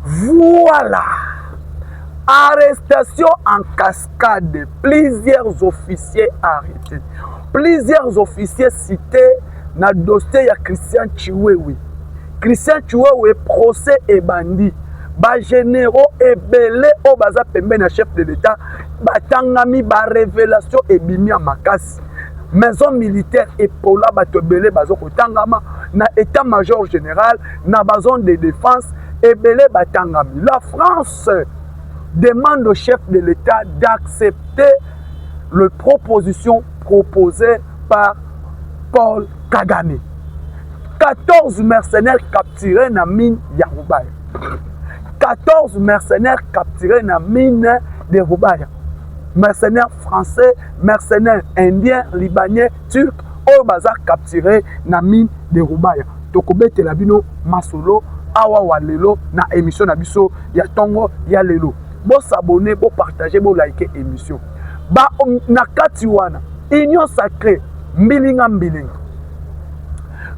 Voilà! Arrestation en cascade, plusieurs officiers arretes, plusieurs officiers cites na dossier ya Christian Tshiwewe. Christian Tshiwewe procès ebandi. Ba généraux ebele oyo baza pembeni ya chef de l'État batangami, ba révélations ebimi ya makasi. place maison militaire epola bato ebele bazo kotangama na état major général na bazone de défense ebele batangami la france demande au chef de l'état d'accepter le proposition proposée par paul kagame 14 mercenaires capturés na mine ya rubaya 14 mercenaires capturés na mine de rubaya mercenaires français mercenaires indiens, libanais, turcs oyo baza capturer na mine de Rubaya. Tokobetela bino masolo awa wa lelo na emission na biso ya tongo ya lelo. Bo s'abonner, bo partager, bo liker emission. Ba na kati wana union sacrée mbilinga mbilinga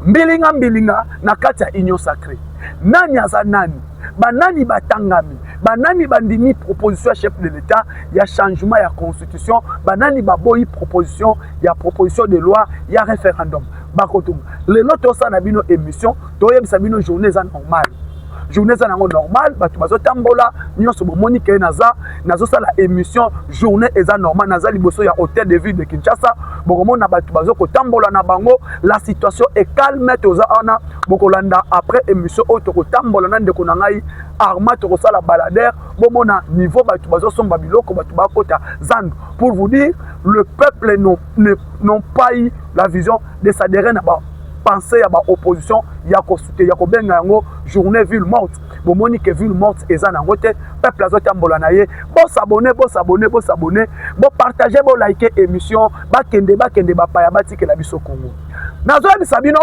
mbilinga mbilinga na kati ya union sacrée nani aza nani banani batangami Banani bandimi proposition ya chef de l'Etat ya changement ya constitution? Banani baboyi proposition ya proposition de loi ya referendum? Bakotunga. Lelo tosala na bino emission, toyebisa bino journée eza normale. Journée eza nango normale, bato bazotambola nyonso bomoni ke naza nazosala emission, journée eza normale, naza liboso ya hôtel de ville de Kinshasa, bokomona bato bazokotambola na bango, la situation est calme, toza wana bokolanda après emission oyo tokotambola na ndeko na ngai arma tokosala balader bomona niveau bato bazosomba biloko bato bakota zandu pour vous dire le peuple non, ne, non pas eu la vision de s'adhérer na bapense ya baopposition ya kosute ya kobenga yango journée ville morte bomoni ke ville morte eza na yango te peuple azotambola na ye bosabone bosabone bosabone bopartage bolike émission bakende bakende bapaya batikela biso kongo nazoyebisa bino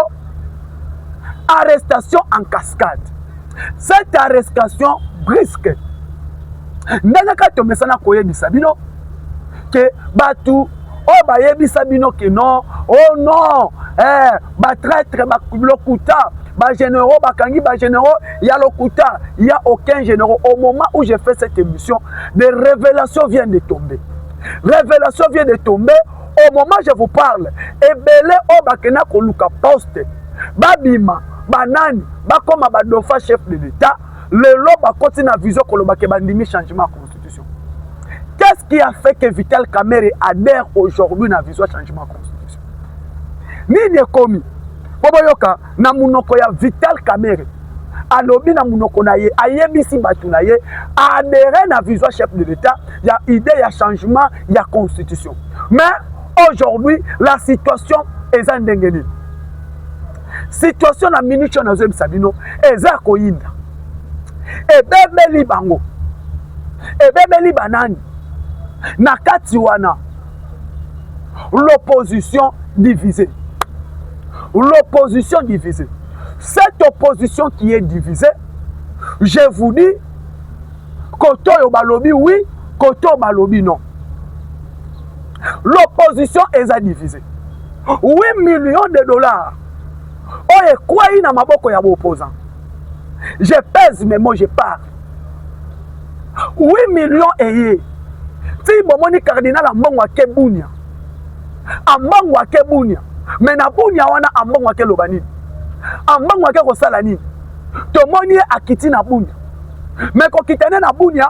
arrestation en cascade Cette arrestation brusque ndenge kaka tomesana koyebisa bino ke bato oyo bayebisa bino ke non o oh non eh, batraitre lokuta bagénéraux bakangi bagénéraux ya lokuta ya aucun généraux au moment où j'ai fait cette émission des révélations viennent de tomber révélation vient de tomber au moment je vous parle ebele oyo bakenda koluka poste babima banani bakoma ba dauphin chef de l'etat lelo bakoti na vision koloba ke bandimi changement ya constitution qu'est-ce qui a fait que vital kamere adhère aujourd'hui na vision changement ya constitution nini ekomi mpo boyoka na monoko ya vital kamere alobi na monoko na ye ayebisi bato na ye aadere na vision chef de l'etat ya idée ya changement ya constitution mais aujourd'hui la situation eza ndenge nini situation na minute oyo nazoyebisa bino eza ya koyinda ebebeli bango ebebeli banani na kati wana l'opposition divisée l'opposition divisée cette opposition qui est divisée je vous dis kote oyo balobi oui kote oyo balobi non l'opposition eza divise 8 millions de dollars oyo ekwei na maboko ya baopposant je pèse mes mots je parle 8 millions eye ti bomoni cardinal ambongo ake bunia ambongo ake bunia me na bunia wana ambongo ake loba nini ambongo ake kosala nini tomoni ye akiti na bunia me kokita ne na bunia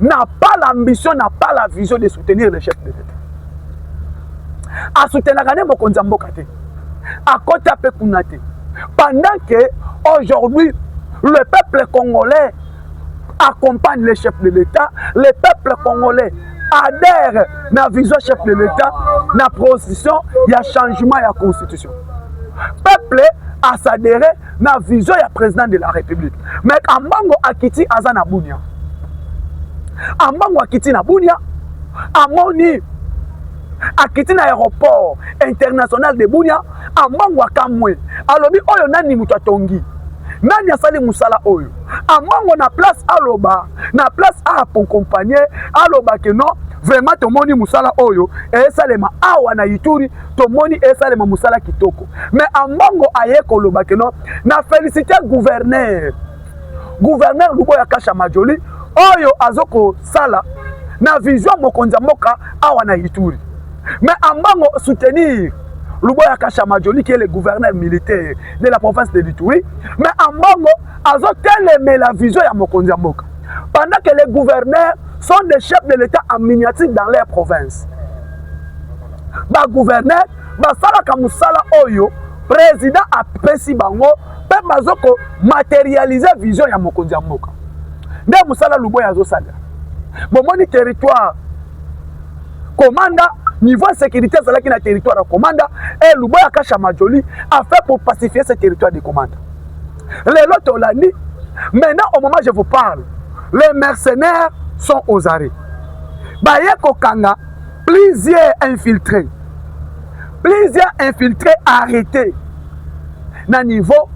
n'a pas l'ambition n'a pas la vision de soutenir le chef de l'État asoutenaka nde mokonzi ya mboka te akota mpe kuna te pendant que aujourd'hui le peuple congolais accompagne le chef de l'État le peuple congolais adhère na vision chef de l'État na position ya changement ya constitution peuple asadere na vision ya president de la republique mais ambango akiti aza na bunia ambango akiti na bunia amoni akiti na aéroport international de bunia ambango akamwe alobi oyo nani moto atongi nani asali mosala oyo amongo na place aloba na place aakompagne aloba ke non vraiment tomoni mosala oyo esalema awa na ituri tomoni esalema mosala kitoko me ambongo aye koloba keno na felicite guverner guverner luboya kasha majoli oyo azo kosala na vision mokonzi ya mboka awa na ituri me ambongo soutenir luboya kasha majoli qui est le gouverneur militaire de la province de lituri me ambongo azotelemela vision ya mokonzi ya mboka pendant que les gouverneurs sont des chefs de l'état en miniature dans leur province ba gouverneur basalaka mosala oyo président apesi bango mpe bazo ko materialiser vision ya mokonzi ya mboka nde mosala luboya azosalela bomoni territoire komanda niveau ya sécurité azalaki na territoire ya komanda e luboya kasha majoli afin pour pacifier ce territoire de komanda lelo tolandi maintenant au moment je vous parle les mercenaires sont aux arrêts baye kokanga Plusieurs infiltrés, plusieurs infiltrés arrêtés na niveau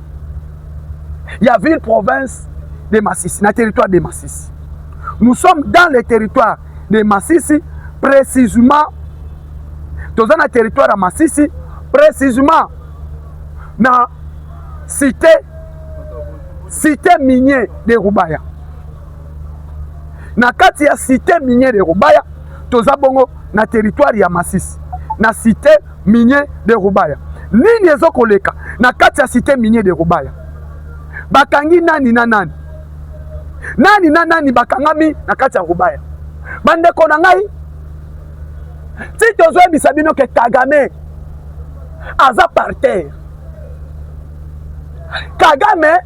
ya ville province de Massissi, na territoire de Massissi. Nous sommes dans le territoire de Massissi, précisément toza na territoire ya Massissi, précisément na cité cité minier de Rubaya. Na kati ya cité minier de Rubaya toza bongo na territoire ya Masisi na cité minier de Rubaya. Nini ezo koleka na kati ya cité minier de Rubaya? Bakangi nani na nani? Nani na nani bakangami na kati ya Rubaya? Bandeko na ngai, ti tozoyebisa bino ke Kagame aza par terre. Kagame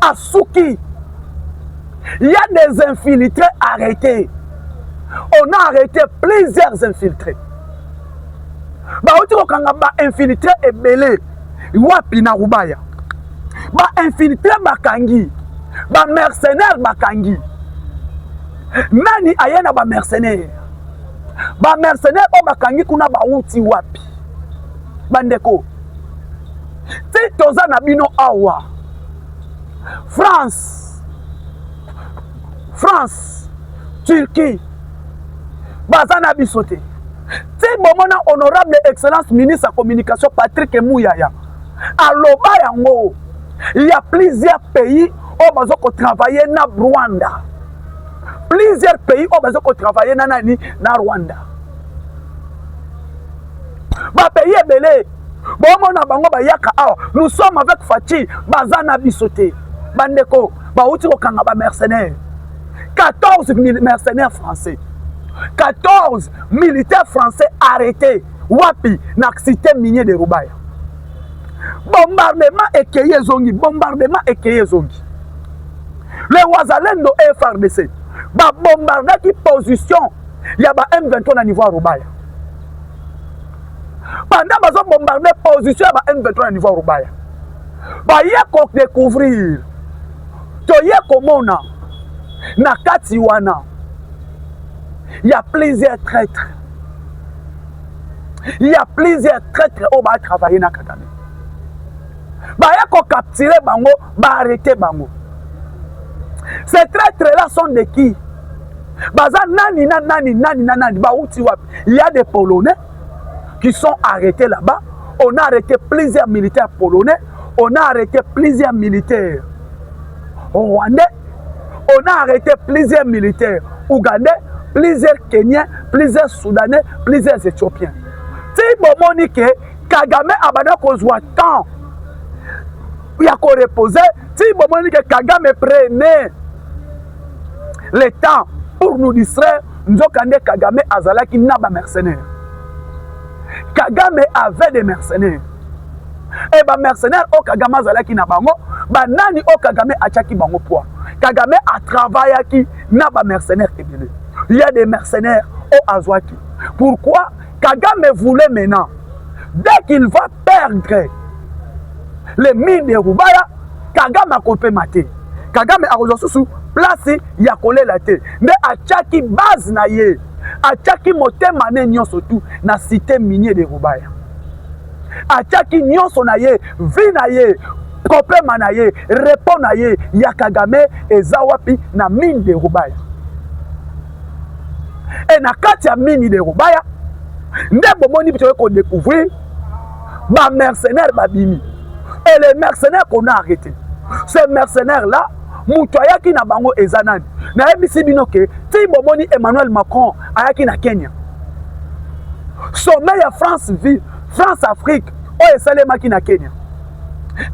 asuki il y a des infiltrés arrêtés on a arrêté plusieurs infiltrés bauti kokanga ba infiltré ebele wapi na rubaya ba infiltré bakangi ba mercenaire bakangi nani aye na ba mercenaire ba mercenaire oyo bakangi kuna bauti wapi bandeko ti toza na bino awa france france turquie baza na biso te ti bomona honorable excellence ministre ya communication patrick muyaya aloba yango ya plusieurs pays oyo baza kotravaille na rwanda plusieurs pays oyo baza kotravaille na nani na rwanda bapays ebele Bongo na bango bayaka awa, nous sommes avec Fatshi, baza na biso te. Bandeko, bauti kokanga ba mercenaires. 14 mercenaires français. 14 militaires français arrêtés. Wapi na cité minier de Rubaya. Bombardement ekeye ezongi, bombardement ekeye ezongi. Le Wazalendo et FRDC babombardaki position ya ba M23 na niveau ya Rubaya. pendant bazo bombarde position ya ba M23 na niveau ya Rubaya baye ko découvrir toye komona na kati wana ya plusieurs traitres ya plusieurs traitres oyo ba travailler na Kagame baye ko capturer bango ba arrêter bango ces traitres là sont de qui baza nani na nani nani na nani bauti wapi il y a des polonais qui sont arrêtés là-bas on a arrêté plusieurs militaires polonais on a arrêté plusieurs militaires rwandais on a arrêté plusieurs militaires ougandais plusieurs kenyens plusieurs soudanais plusieurs éthiopiens ti bomoni ke kagame abanda kozwa temps ya korepose ti bomoni ke kagame prene le temps pour nous distraire nzokande kagame azalaki na bamercenaire kagame avait des mercenaires e bamercenaire oyo kagame azalaki na bango banani oyo kagame atyaki bango poids kagame atravayaki na bamercenaire ebele ya des mercenaires oyo azwaki pourquoi Kagame voulait maintenant, dès qu'il va perdre les mines de Rubaya, Kagame akopema te. Kagame akozwa susu place ya kolela te. Nde atiaki base na ye, atiaki motema ne nyonso tu na cité minier de Rubaya. Atiaki nyonso na ye, vie na ye, kopema na ye, repos na ye ya Kagame eza wapi na mine de Rubaya. e na kati ya mini de rubaya nde bomoni bitoye kodecouvrir bamercenaire babimi e le mercenaire qu'on a arrêté ce mercenaire là moto ayaki na bango eza nani nayebisi bino ke ti bomoni emmanuel macron ayaki na kenya sommet ya france vie france afrique oyo esalemaki na kenya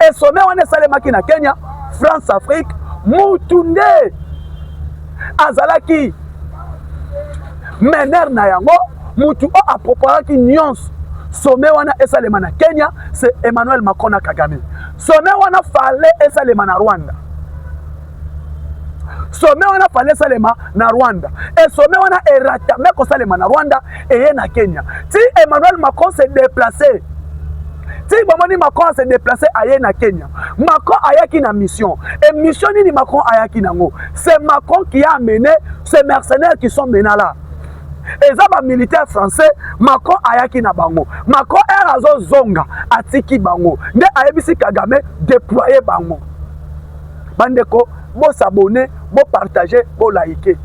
e sommet wana esalemaki na kenya france afrique mutu nde azalaki mener na yango mutu oyo aproparaki nyonso sommet wana esalema na kenya se emmanuel macron na kagame sommet wana fale esalema na rwanda sommet wana fale esalema na rwanda e sommet wana eratame kosalema na rwanda eye na kenya ti emmanuel macron se déplacer ti bomoni macron ase déplace aye na kenya macron ayaki na mission e mission nini macron ayaki nango c'est macron qui a amené ces mercenaires qui sont mena là eza bamilitaire français macron ayaki na bango macron ere azozonga atiki bango nde ayebisi kagame déploye bango bandeko bosabone bopartage bolaike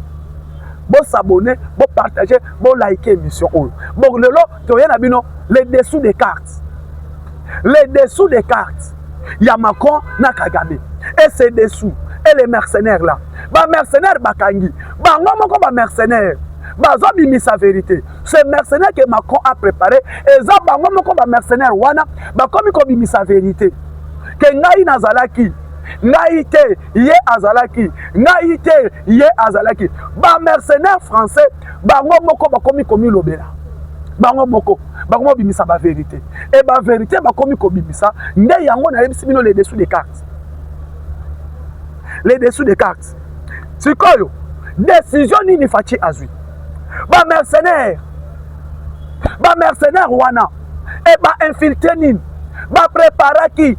bo s'abonner bo partager bo liker émission oyo bon lelo toye na bino les dessous des cartes les dessous des cartes ya Macron na Kagame et ces dessous et les mercenaires là ba mercenaires bakangi bango moko ba mercenaires bazobimisa verité ce mercenaire que Macron a préparé eza bango moko ba mercenaires wana bakomi kobimisa verité ke ngai nazalaki ngai te ye azalaki ngai te ye azalaki ba mercenaire français bango moko bakomi komilobela bango moko bakomi kobimisa baverité e baverité bakomi kobimisa nde yango nayebisi bino le dessous des cartes le dessous des cartes sikoyo décision nini faci azwi bamercenaire bamercenaire wana e bainfiltre nini bapreparaki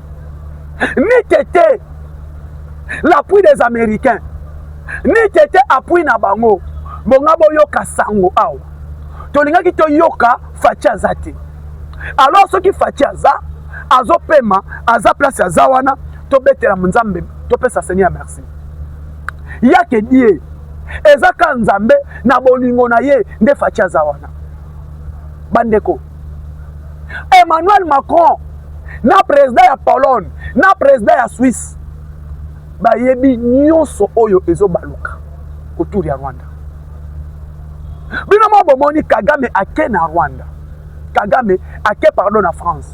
ni kete l'appui des américains ni kete appui na bango bonga boyoka sango awa tolingaki toyoka faci aza te alors soki faci aza azopema aza place aza wana tobetela nzambe topesa seigneur merci yake die eza ka nzambe na bolingo na ye nde faci aza wana bandeko Emmanuel Macron na president ya Pologne na president ya Suisse bayebi nyonso oyo ezobaluka autour ya Rwanda. Bino moko bomoni Kagame ake na Rwanda, Kagame ake pardon na France.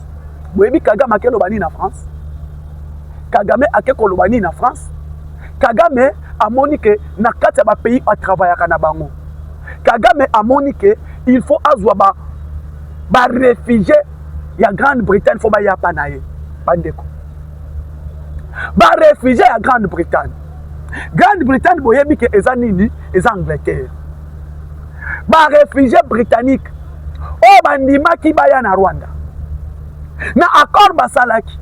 Boyebi Kagame ake loba nini na France? Kagame ake koloba nini na France? Kagame amoni ke na kati ya bapays atravayaka na bango Kagame amoni que il faut azwa ba ba réfugiés ya Grande Bretagne faut baya pa na ye bandeko ba réfugiés ya Grande Bretagne Grande Bretagne boyebi que eza nini eza Angleterre ba réfugiés britanniques oyo bandimaki baya na Rwanda na accord basalaki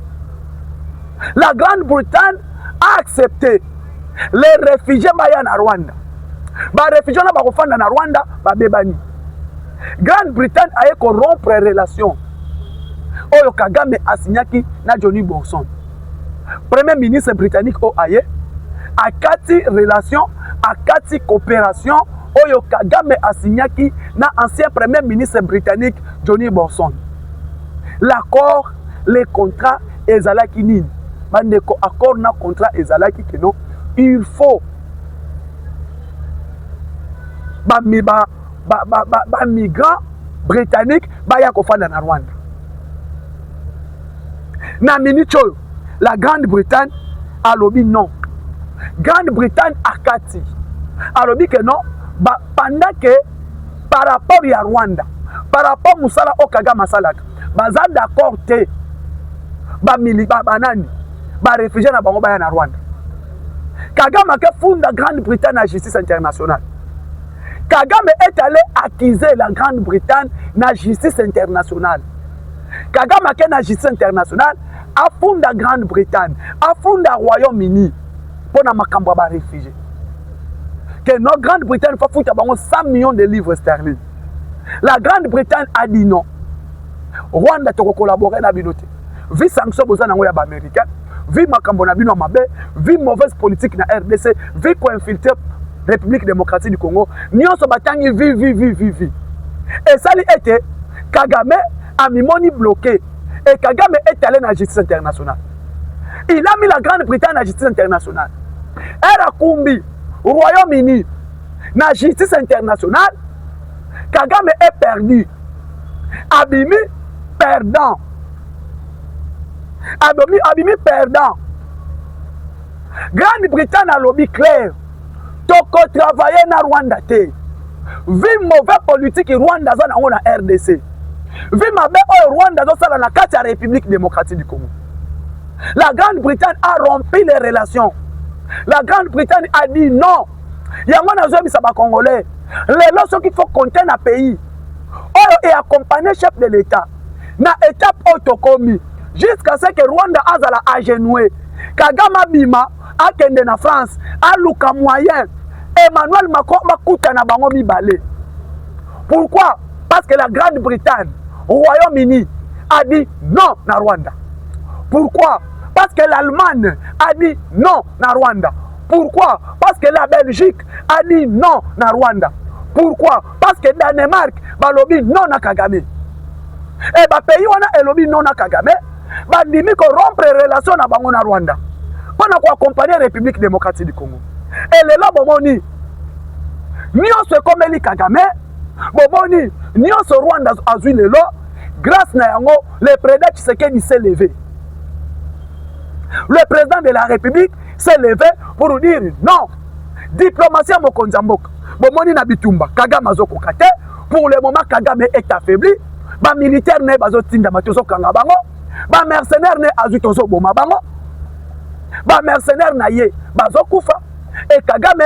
la Grande Bretagne a accepté les refugies baya na rwanda barefugie wana bakofanda na rwanda babebani grande bretagne aye korompre relation oyo kagame asignaki na johnny borson premier ministre britannique oyo aye akati relation akati coopération oyo kagame asignaki na ancien premier ministre britannique johnny borson l'accord les contrats ezalaki nini bandeko accord na contrat ezalaki keno il faut bami ba, ba, ba, ba, ba migrant britannique baya kofanda na rwanda na minute oyo la grande bretagne alobi non grande bretagne akati alobi ke non ba, pendant ke par rapport ya rwanda par rapport mosala oyo kagame asalaka baza d'accord te bamili banani barefugie na bango baya na rwanda kagame ake funda grande bretagne na justice internationale kagame est allé accuser la grande bretagne na justice internationale kagame ake na justice internationale afunda grande bretagne afunda royaume uni mpo na makambo ya barefugie que no grande bretagne fafuta bango 100 millions de livres sterling la grande bretagne a dit non rwanda tokokolabore na bino te vi sanction boza nango ya baaméricain vi makambo na bino ya mabe vi mauvaise politique na rdc vi koinfiltre république démocratique du congo nyonso batangi vi vi vi vi vi esali ete kagame amimoni bloqué et kagame est allé na justice internationale il a mis la grande bretagne na justice internationale era kumbi royaume uni na justice internationale kagame est perdu abimi perdant abimi, abimi perdant grande bretagne alobi claire tokotravaille na rwanda te vi mauvais politiki rwanda aza nango na rdc vi mabe oyo rwanda azosala na kati ya république démocratique du congo la grande bretagne a rompi les relations la grande bretagne a dit non yango nazoyebisa bacongolais lelo soki fo compte na pays oyo eaccompagne chef de l'etat na étape oyo tokomi jusqu'à ce que rwanda azala agenoue kagame abima akende na france aluka moyen emmanuel macron bakuta na bango mibale pourquoi parce que la grande bretagne royaume uni a dit non na rwanda pourquoi parce que l'allemagne a dit non na rwanda Pourquoi? Parce que la Belgique a dit non na Rwanda. Pourquoi? Parce que Danemark balobi non na Kagame. Et ba pays wana elobi non na Kagame, bandimi ko rompre relation na bango na Rwanda. Pona ko accompagner République démocratique du Congo. Et lelo bomoni nyonso ekomeli Kagame, bomoni nyonso Rwanda azui lelo grâce na yango le président Tshisekedi s'est levé. Le président de la République se leve pour nous dire non diplomatie ya mokonzi ya mboka bomoni na bitumba kagame azokoka te pour le moment kagame est affaibli bamilitaire na ye bazotindama tozokanga bango bamercenaire na ye azwi tozoboma bango bamercenaire na ye bazokufa e kagame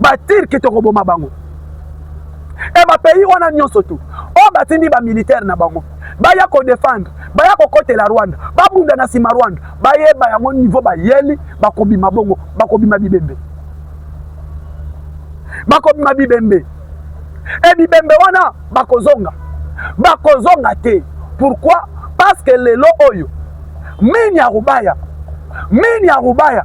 batirke tokoboma bango e bapays wana nyonso tu oyo batindi bamilitaire na bango baya kodefendre baya kokotela rwanda babunda na nsima rwanda bayeba yango nivo bayeli bakobima bongo bakobima bibembe bakobima bibembe e bibembe wana bakozonga bakozonga te pourkui parce que lelo oyo mini ya rubaya mini ya rubaya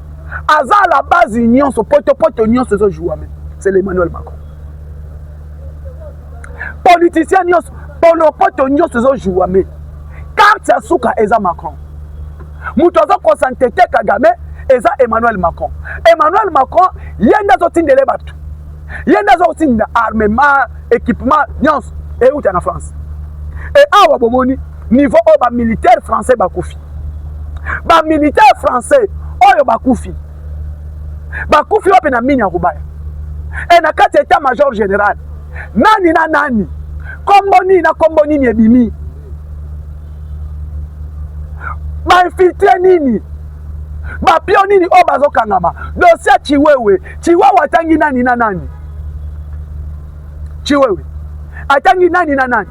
aza à la base nyonso potopoto nyonso ezo jouame c'est l'emmanuel macron politicien nyonso polopoto nyonso ezo jouame carte ya suka eza macron moto azo kosantete kagame eza emmanuel macron emmanuel macron ye nde azotindele bato ye nde azotinda armement équipement nyonso euta na france e awa bomoni niveau oyo bamilitaire français bakufi ba militaire français oyo bakufi bakufi wapi na mini ya kobaya e na kati ya etat major general nani na nani kombo nini na kombo nini ebimi bainfiltre nini bapio nini oyo bazokangama dosie ya chiwewe chiwewe atangi nani na nani Chiwewe atangi nani na nani?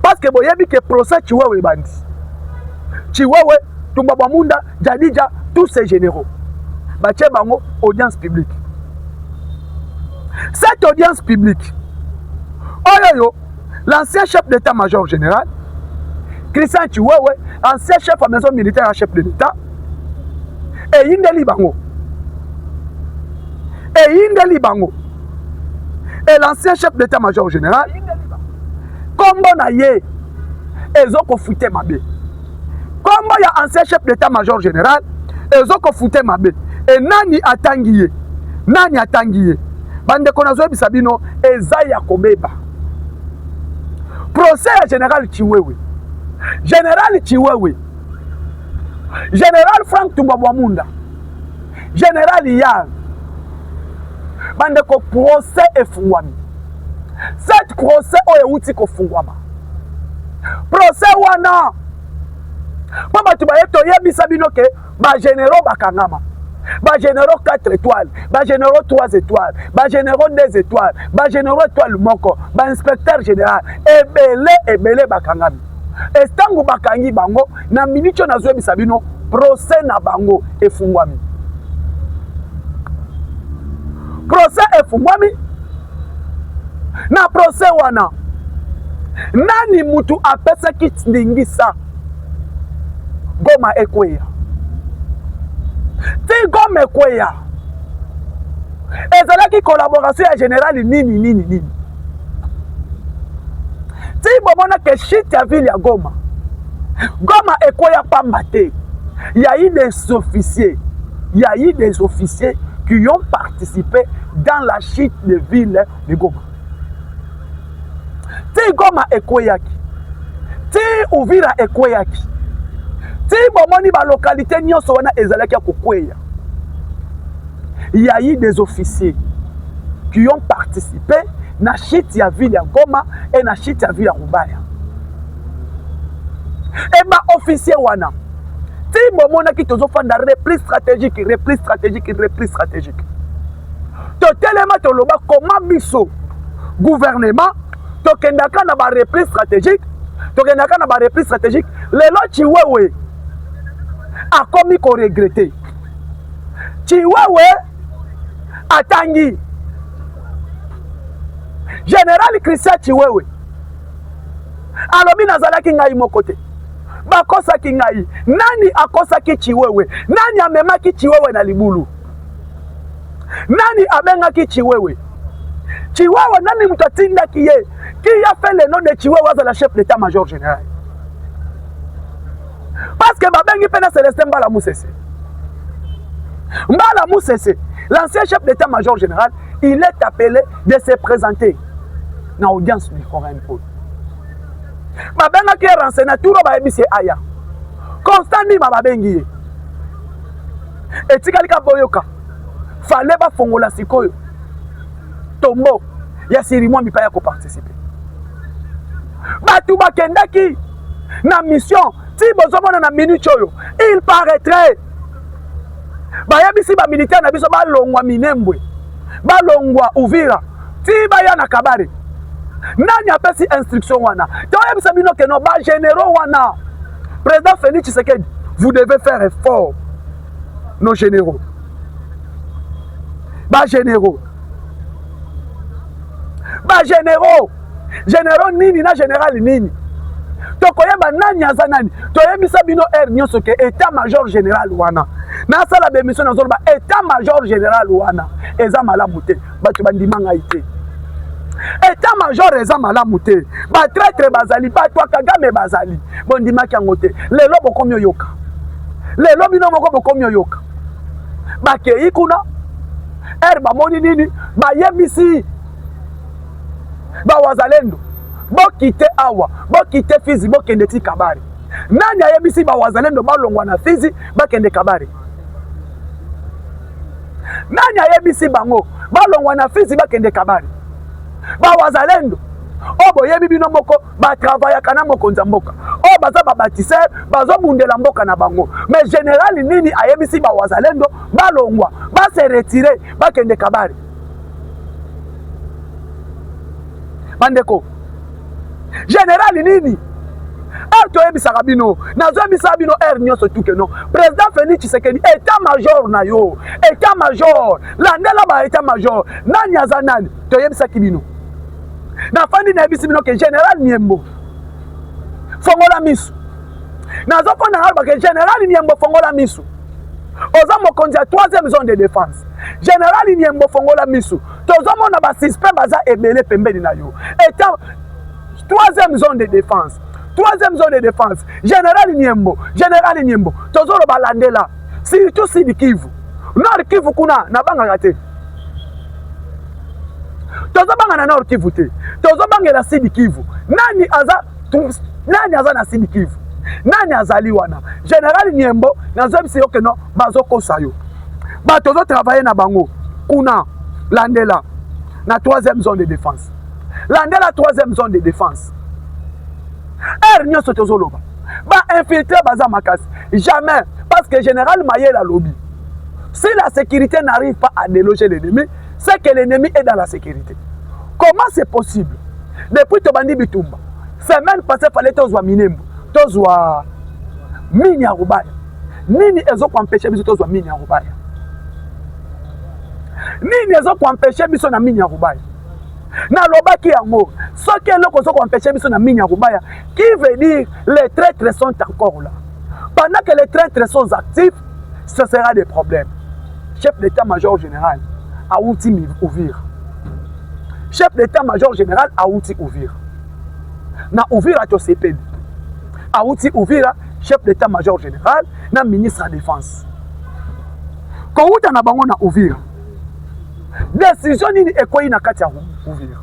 Parce que boyebi que procès Chiwewe ebandi. Chiwewe, Tumba Bamunda, Jadija, tous ces généraux. Batie bango audience publique. Cette audience publique, oyoyo, l'ancien chef d'état-major général, Christian Chiwewe, ancien chef ya maison militaire ya chef de l'État, eyindeli bango. Eyindeli bango. et l'ancien chef d'état major général kombo na ye ezokofute mabe kombo ya ancien chef d'état major général ezokofute mabe e nani atangi ye nani atangi ye bandeko nazoyebisa bino eza ya kobeba procès ya général chiwewe général chiwewe général frank tubabwamunda General Iyar, bandeko, procès efungwami. Cette procès oyo euti kofungwama, procès wana mpo bato baye toyebisa bino ke bageneraux bakangama bageneraux 4 étoiles bageneraux 3 étoiles bageneraux 2 étoiles bageneraux étoile moko bainspecteur général ebele ebele bakangami estango bakangi bango na miniti oyo nazoyebisa bino procès na bango efungwami procès efungwami na procès wana nani mutu apesaki ndingisa goma ekweya ti goma ekweya ezalaki collaboration ya generali nini nini nini ti bomona ke shit ya ville ya goma goma ekweya pamba te ya i des officiers ya i des officiers qui ont participé dans la chute de ville de goma ti goma ekweyaki ti uvira ekweyaki ti bomoni balokalité nyonso wana ezalaki ya kokweya il y a eu des officiers qui ont participé na chute ya ville ya Goma et na chute ya ville ya Rubaya. Et ba officiers wana ti bomonaki tozofanda repli stratégique repli stratégique repli stratégique totelema toloba koma biso gouvernement tokendaka na barepli stratégique tokendaka na barepli stratégique lelo chiwewe akomi ko regretter. Chiwewe atangi General Christian Chiwewe alobi nazalaki ngai moko te bakosaki ngai. Nani akosaki Chiwewe? Nani amemaki Chiwewe na libulu? Nani abengaki Chiwewe? Chiwewe nani moto atindaki ye? Qui a fait le nom de Chiwewe azala chef d'état major général? parce que babengi mpe na celestin mbala musese mbala musese l'ancien chef d'état major général il est appelé de se présenter na audience du forum oyo babengaki ye renseigne turo bayebisi ye aya constant ndima babengi ye etikali ka boyoka fale bafongola sikoyo tombo ya sirimwa mipa ya koparticipe bato bakendaki na mission ti bozomona na minute oyo il paraîtrait bayebisi bamilitaire na biso balongwa minembwe balongwa uvira ti baya na kabare nani apesi instruction wana toyebisa bino keno bagénéraux wana président félix tshisekedi vous devez faire effort nos généraux bagénéraux ba generaux generaux nini na general nini tokoyeba nani aza nani toyebisa bino heure nyonso ke etat major general wana nasala bemission nazoloba etat major general wana eza malamu te bato bandima ngai te etat major eza malamu te batraitre bazali bato ya kagame bazali bondimaki yango te lelo bokomi oyoka lelo bino moko bokomi oyoka bakei kuna ere bamoni nini bayebisi bawazalendo bokite awa bokite fizi bokende ti kabare nani ayebisi bawazalendo balongwa na fizi bakende kabare nani ayebisi bango balongwa na fizi bakende kabare bawazalendo oyo boyebi bino moko batravayaka na mokonzi ya mboka oyo oh, baza babatisere bazobundela mboka na bango mais generali nini ayebisi bawazalendo balongwa base retire bakende kabare bandeko generali nini heure toyebisaka bino nazoyebisa bino heure nyonso tuke no président félix tshisekedi état major na yo état major landela ba état major nani aza nani toyebisaki bino na fandi na yebisi bino ke general niembo fongola misu nazo fanda na loba ke general niembo fongola misu oza mokonzi ya troisième zone de défense general niembo fongola misu tozomona basuspect baza ebele pembeni na yo eta troisième zone de défense troisième zone de défense général niembo général niembo tozoloba landela surtout sud kivu nord kivu kuna nabangaka te tozobanga na nord kivu te tozobangela sidi kivu nani aza nani aza na sidi kivu nani azali wana general nyembo nazoyebisa yo keno bazokosa yo bato ozotravaille na bango kuna landela na troisième zone de défense landela troisième zone de défense heure nyonso tozoloba bainfiltre baza makasi jamais parce que général mayele alobi Si la sécurité n'arrive pas à déloger l'ennemi, c'est que l'ennemi est dans la sécurité. Comment c'est possible Depuis Tobandi Bitumba, semaine passée, fallait tozwa Minembo, tozwa mini ya Rubaya. Nini ezo kuampeshe biso tozwa mini ya Rubaya? Nini ezo kuampeshe biso na mini ya Rubaya? nalobaki yango soki eloko ozo kuampeshe biso na mini ya Rubaya, qui veut dire les traîtres sont encore là. Pendant que les traîtres sont actifs, ça sera des problèmes chef d'état major général awuti uvira chef d'état major général awuti uvira na uvira tosepeli awuti uvira chef d'état major général na ministre ya défense kowuta na bango na uvira décision nini ekwei na kati ya uvira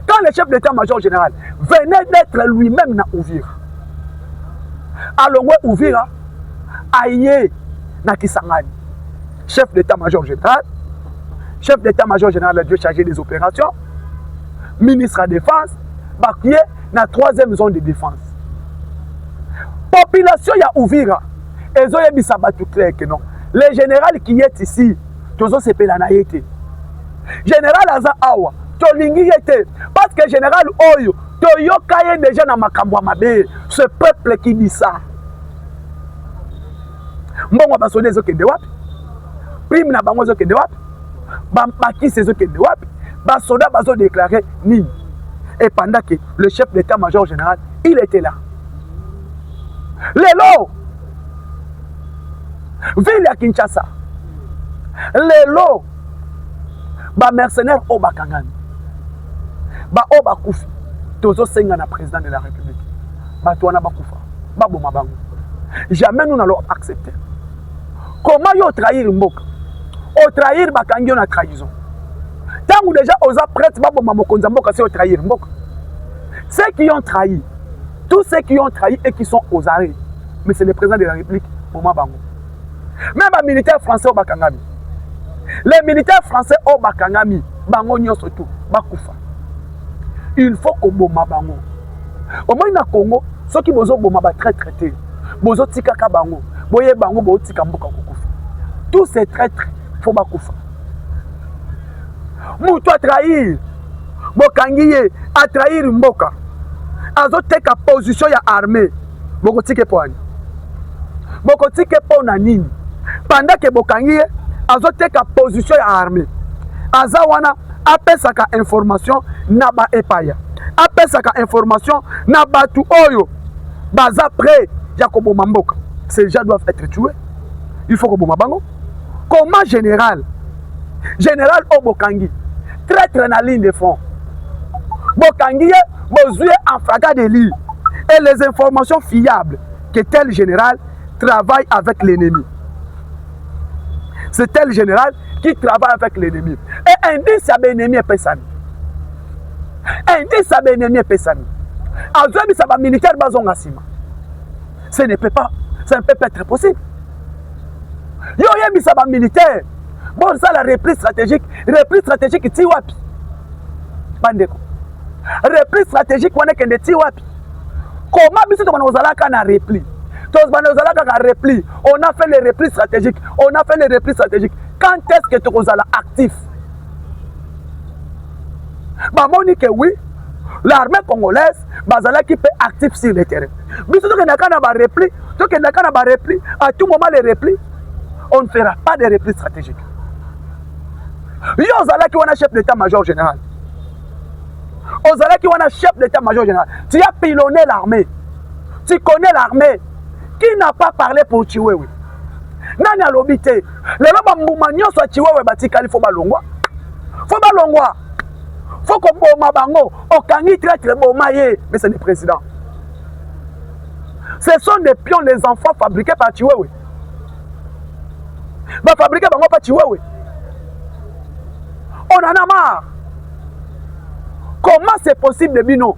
quand le chef d'état major général venait d'être lui-même na uvira alongwe uvira aye na kisangani chef d'état major général chef d'état major général adie chargé des opérations ministre ya défense bakie na troisième zone de défense population ya uvira ezoyebisa bato clair ke non le général qui est ici tozosepela na ye te général aza awa tolingi ye te parce que général oyo toyoka ye deja na makambo ya mabe ce peuple qui dit ça mbongo ya basoda ezokende wapi prime na bango ezokende wapi bampakisi ezokende wapi basoda bazodeklare nini et pendant que le chef d'état major général il était là lelo ville ya kinshasa lelo ba mercenaire oyo bakangami baoyo bakufi tozosenga na président de la république bato wana bakufa baboma bango jamais nous nalo accepter comment yo otrahir mboka otrahir bakangi yo na trahison ntango deja oza prête baboma mokonzi ya mboka se otrahir mboka ceux qui ont trahi tous ceux qui ont trahi et qui sont aux arrêts mais c'est le président de la république boma bango Même ba militaires français oyo bakangami. Les militaires français oyo bakangami, bango nyonso tout bakufa. Il faut koboma bango. Omoni na Congo soki bozoboma ba traitre te, bozotikaka bango, boye bango botika mboka kokufa. Tous ces traitres faut bakufa. Moto atrahir bokangi ye, atrahir mboka, azoteka position ya armée bokotika mpo ani bokotika mpo na nini panda ke bokangi ye azoteka position ya armée aza wana apesaka information na ba epaya apesaka information na batu oyo baza près ya koboma mboka ces gens doivent être tués il faut koboma bango comment general general oyo bokangi traitre na ligne de front bokangi ye bozwi ye en flagrant délit et les informations fiables que tel général travaille avec l'ennemi c'est tel général qui travaille avec l'ennemi et indice ya baennemi epesami indice ya baennemi epesami azoyebisa bamilitaire bazonga nsima ce ne peut pas ça ne peut pas être possible yo oyebisa bamilitaire bosala reprise stratégique reprise stratégique ti wapi bandeko reprise stratégique wana ekende ti wapi koma biso tokona kozalaka na repli tozbana ozalaka ka repli on a fait les replis stratégiques on a fait les replis stratégiques quand est ce que tokozala actif bamoni ke oui l'armée congolaise bazalaki mpe actif sur le terrain biso tokendaka na barepli tokendaka na barepli à tout moment les replis on ne fera pas de repli stratégique yo ozalaki wana chef d'état major général ozalaki wana chef d'état major général tu as pilonné l'armée tu connais l'armée qui n'a pas parlé pour tuer oui nani alobi te lelo bambuma nyonso ya chiwewe batikali fo balongwa fo balongwa fo koboma bango okangi traitre boma ye mese le président ce sont des pions les enfants fabriqués par chiwewe bafabrike bango mpa chiwewe on en a marre comment c'est possible bino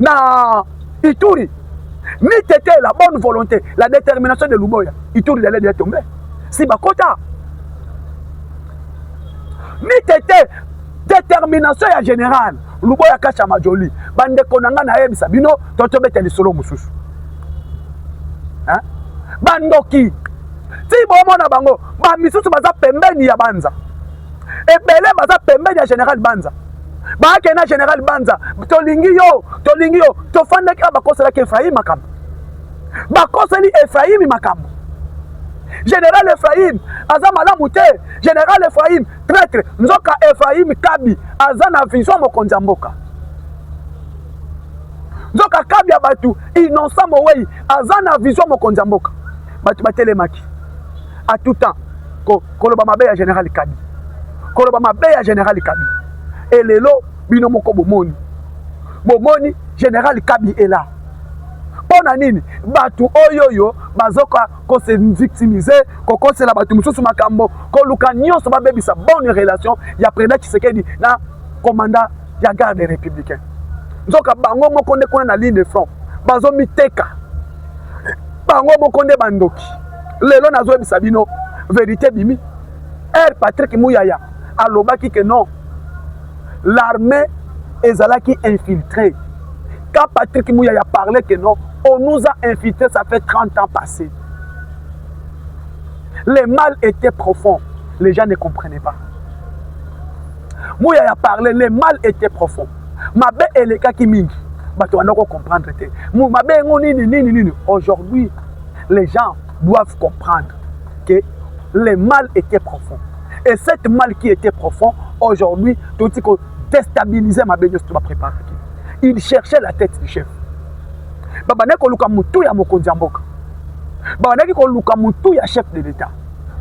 na Ituri ni tete la bonne volonté la détermination de Luboya Ituri d'aller de tomber si bakota ni tete détermination ya général Luboya Kasha Majoli bandeko na ngai nayebisa bino to tobeta lisolo mosusu hein? bandoki ti bomona bango bamisusu baza pembeni ya banza ebele baza pembeni ya général banza baake na general banza tolingi yo tolingi yo tofandaki awa bakoselaki efraim makambo bakoseli efraimi makambo general efraim aza malamu te general efraim traitre nzoka efraim kabi aza na vision mokonzi ya mboka nzoka kabi ya bato innocent mowei aza na vision mokonzi ya mboka bato batelemaki à tout temps ko koloba mabe ya général Kabi koloba mabe ya général Kabi et lelo bino moko bomoni bomoni général Kabi est là mpo na nini bato oyo oyo bazoka kose victimise kokosela bato mosusu makambo koluka nyonso babebisa bonne relation ya président tshisekedi na commanda ya garde républicain nzoka bango moko nde kuna na ligne de front bazomiteka bango moko nde bandoki lelo nazoyebisa bino verite bimi r patrick muyaya alobaki ke non l'armée ezalaki infiltré quand patrick muyaya parlait que non on nous a infiltré ça fait 30 ans passé le mal était profond les gens ne comprenaient pas muyaya parlait le mal était profond mabe elekaki mingi bato banda ko comprendre te mabe yango nini nini nini aujourd'hui les gens doivent comprendre que le mal était profond et cette mal qui était profond aujourd'hui toti ko déstabiliser mabe nyonso to bapreparaki il cherchait la tête du chef babandaki koluka motu ya mokonzi ya mboka babandaki koluka motu ya chef de l'état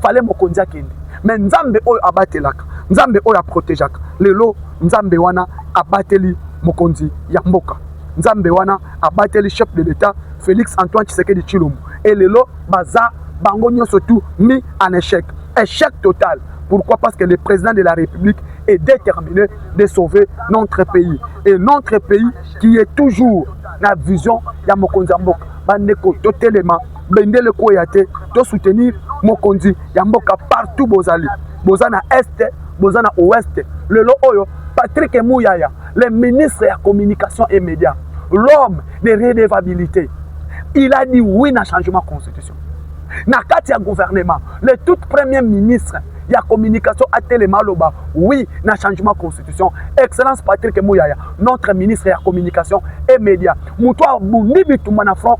fale mokonzi akende me nzambe oyo abatelaka nzambe oyo aprotegeaka lelo nzambe wana abateli mokonzi ya mboka nzambe wana abateli chef de l'etat félix antoine tshisekedi tshilombo e lelo baza bango nyonso tu mis en échec échec total pourquoi parce que le président de la république est déterminé de sauver notre pays et notre pays qui est toujours na vision ya mokonzi ya mboka bandeko totelema bendele kweya te to soutenir mokonzi ya mboka partout bozali boza na est boza na ouest lelo oyo Patrick Muyaya le ministre ya communication et médias l'homme de redevabilité il a dit oui na changement constitution na kati ya gouvernement le tout premier ministre ya communication atelema aloba oui na changement constitution excellence Patrick Muyaya notre ministre ya communication et médias moto abundi bitumba na front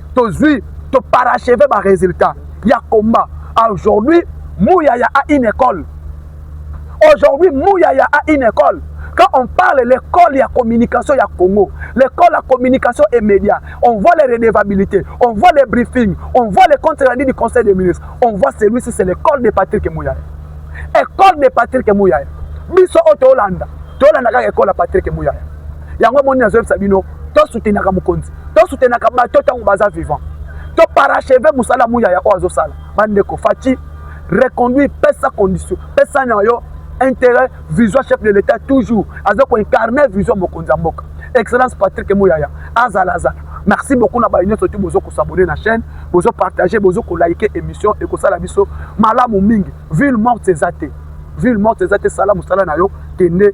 tozwi to paracheve ba résultat ya combat aujourd'hui muyaya a une école aujourd'hui muyaya a une école quand on parle l'école ya communication ya congo l'école ya communication et média on voit les redevabilités on voit les briefings on voit les comptes rendus du conseil des ministres on voit celui-ci c'est l'école de patrick muyaya école de patrick muyaya biso oyo toolanda toolanda kaka école ya patrick muyaya yango omoni nazoyebisa bino tosutenaka mokonzi to soutenaka bato tango baza vivant to paracheve musala muya ya oyo azosala bandeko faci reconduire pesa condition pesa na yo intérêt vision chef de l'état toujours aza koincarne vision mokonzi ya mboka excellence patrick muyaya azala azala merci beaucoup na baye nyonso ti bozo kosabone na chaîne bozo partage bozo kolaike émission ekosala biso malamu mingi ville morte eza te ville morte eza te sala mosala na yo kende